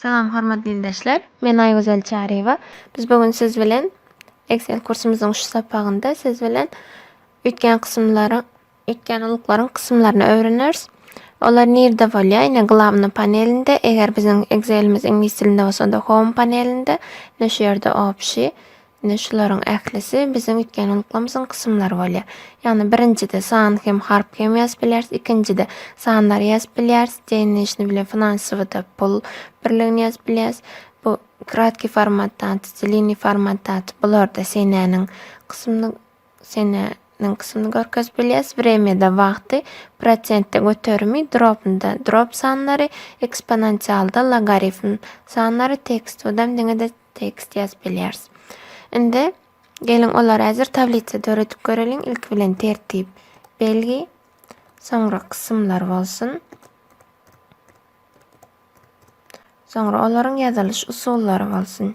Salam hormatly ildeşler. Men Aýgözel Çaryýewa. Biz bu gün siz bilen Excel kursumyzyň şu sapagynda siz bilen üýtgän kysymlary Ekýän uluklaryň kysymlaryny öwreneris. Olar nirde bolýar? Ine glawny panelinde, eger biziň Excelimiz iňlis dilinde bolsa onda home panelinde, ine şu ýerde obşi, ine şularyň ählisi biziň üýtgän uluklarymyzyň kysymlary bolýar. Ýagny birinjide san hem harp hem ýazyp bilýäris, ikinjide sanlary ýazyp bilýäris, денежный bilen finansowyda pul birligini ýazyp bilýäris. Bu kratki format dat, dliniý format dat bularda senäniň kysymly Sene niň kysymyny görkezip bilýäs, wremýada, wagty, prosentde göterimi, dropnda, drop sanlary, eksponansialda, logarifm sanlary, tekst, odam diňede tekst ýazyp bilýäris. Indi geliň olary häzir tablitsa döredip göreliň. Ilki bilen tertip, belgi, soňra kysymlar bolsun. Soňra olaryň ýazylyş usullary bolsun.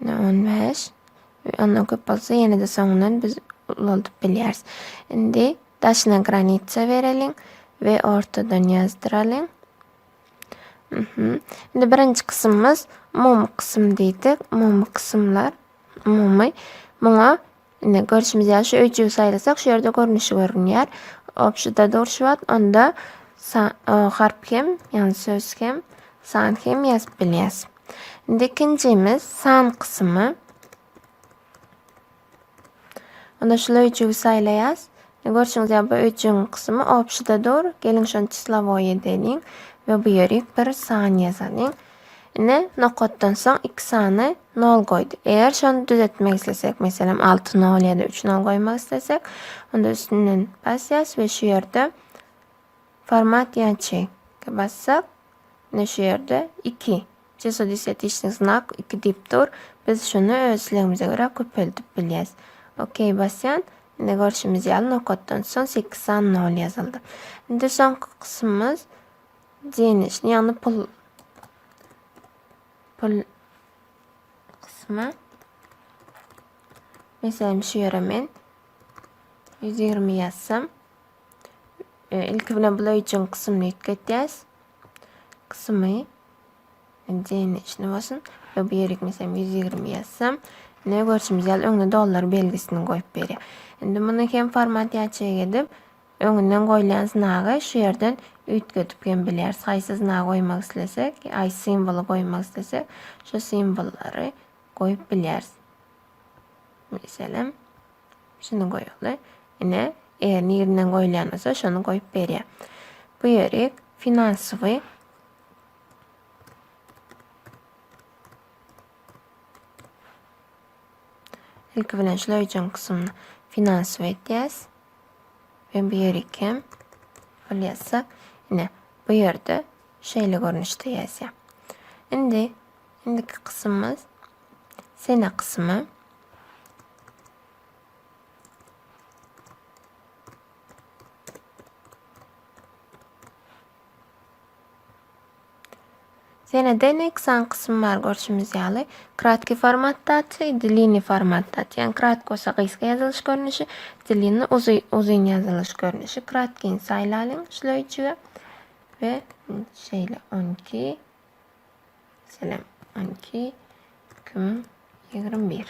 Ine, on bäş. Ondan köp bolsa ýene-de soňundan biz ulaldyp bilýäris. Indi daşyna granitsa bereliň we ortadan ýazdyralyň. Mhm. Indi birinji kysymymyz umumy kysym diýdik. Umumy kysymlar, umumy. Muňa Indi görşümiz ýaly şu öýjügi saýlasak şu ýerde görnüşi görünýär. Obşida durşy wagt onda harp hem, ýagny söz hem, san hem ýazyp bilýäs. Indi ikinjimiz san kysymy. Onda şu öýjügi saýlaýas. Görşüňiz ýaly bu öýjügiň kysymy obşida dur. Geliň şony çislowoýe diýeliň we bu ýerik bir san ýazalyň. Ine, nokatdan soň iki sany nol goýdy. Eger şony düzetmek islesek, meselem, alty nol ýa-da üç nol goýmak islesek, onda üstünden basýas we şu ýerde format ýaçy bassak, ine şu ýerde iki. Çesodisetiçnik znak iki diýip dur. Biz şuny öz islegimize görä köpeldip bilýäs. Okey basýan. Ine görşümiz ýaly nokatdan soň sekiz sany nol ýazyldy. Indi soňky kysymymyz Денежny ýagny pul pul kysmy. Meselem şu ýere men 120 ýazsam. E, ilki bilen bula üçin kysymny ýetgetýäs. Kysymy denejni bolsun. Ve bu ýerik meselem 120 ýazsam. Ne görşümiz ýaly öňde dollar belgisini goýup berýär. Indi muny hem format ýaçyk edip Öňünden goýlan znagy şu ýerden üýtgedip hem bilýäris. Haýsy znagy goýmak islesek, haýsy simwoly goýmak islesek, şo simwollary goýup bilýäris. Meselem, şuny goýaly. Ine, eger nirinden goýulýan bolsa, şony goýup berýär. Bu ýeri finansowy Ilki bilen şular üçin kysymyny finansowy etýäs. Men bu ýeri ikem. Halyýatsa, ine, bu ýerde şeýle görnüşde ýazýar. Indi indiki kysymymyz sene kysmy. Senede ine iki sany kysym bar görşümiz ýaly. Kratky format dat i dliniý format dat. Ýagny kratky bolsa gysga ýazylyş görnüşi, dliniý uzy uzyn ýazylyş görnüşi. Kratkyny saýlalyň şleýjige we şeýle on iki selam on iki iki müň ýigrimi bir.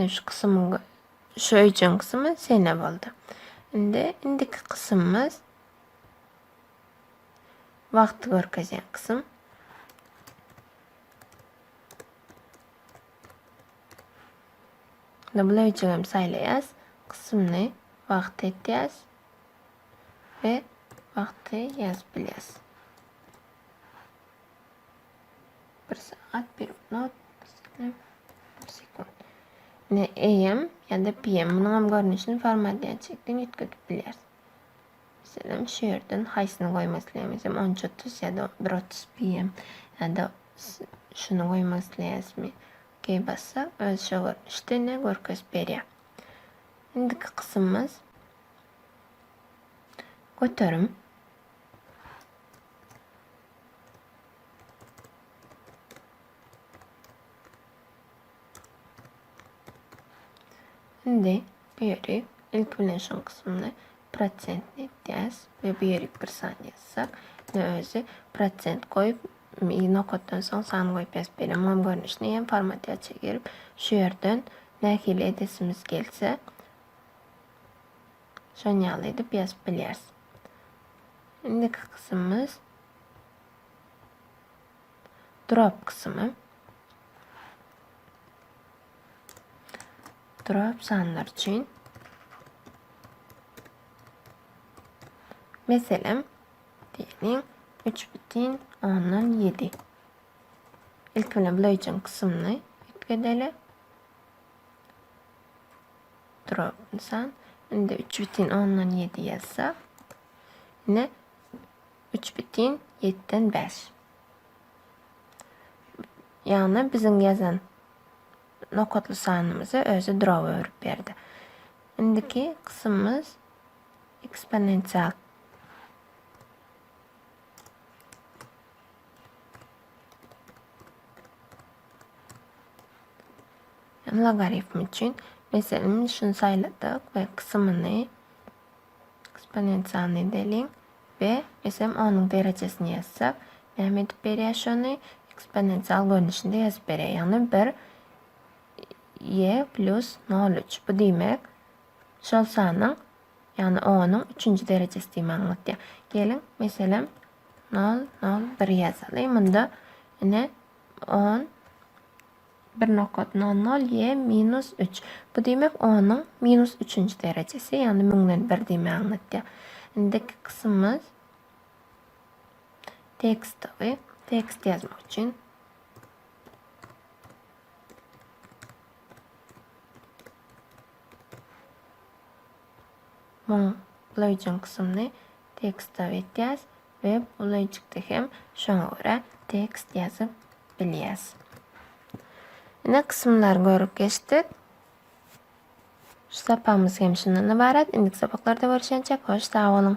Şu kysymyň Şu öýjüň kysmy şeýne boldy. Indi indiki kysymymyz wagty görkezýän kysym. Indi bu öýjügi hem saýlaýas. Kysymny wagty etýäs we wagty ýazyp bilýäs. Bir sagat, bir minut, bir saniýe, bir sekunt. Ne AM ýa-da PM. Munuň hem görnüşini formatlaýan çekden ýetgidip bilýäris. Meselem, şu ýerden haýsyny goýmak isleýämiz? Hem 13.30 ýa-da 1.30 PM ýa-da şuny goýmak isleýäsmi? Okey bassak, öz şu görnüşde ne görkezip berýär. Indiki kysymymyz göterim. Indi bu ýeri ilki bilen şol kysymda prosentni etýäs we bu ýeri bir san ýazsak, indi özi prosent goýup, nokatdan soň san goýup ýazyp berýär. Muňam görnüşini hem formatiýaça girip, şu ýerden nähili edesimiz gelse, şon ýaly edip ýazyp bilýäris. Indiki kysymymyz drop kysymy. Drop sanlar üçin Meselem, diýelim, 3,7. Ilk bilen bileýjin kysymyny üýtgedeli. Durap ynsan. Indi üç bitin ondan ýedi ýazsak. Ine üç bitin ýetden bäş. Ýagny biziň ýazan nokatly sanymyzy özi durawa öwrüp berdi. Indiki kysymymyz eksponensial. Hem logarifm üçin meselem şuny saýladyk we kysymyny eksponensialnyý edeliň we eýsem onuň derejesini ýazsak näme edip berýär şony eksponensial görnüşinde ýazyp berýär ýagny bir e plus nol üç bu diýmek şol sanyň ýagny onuň üçünji derejesi diýme aňlatýar geliň meselem nol nol bir ýazaly munda ine on Bir nokat nol nol ýe minus üç. Bu diýmek onuň minus üçünji derejesi, ýagny müňden bir diýmegi aňlatýar. Indiki kysymymyz tekstowy, tekst ýazmak üçin. Müň Legion kısmını teksta etýäs. Web ulaýjykda hem şoňa görä tekst ýazyp bilýäs. Ine kysymlary görüp geçdik. Şu sapagymyz hem şundan ybarat. Indiki sapaklarda görüşençek hoş sag boluň.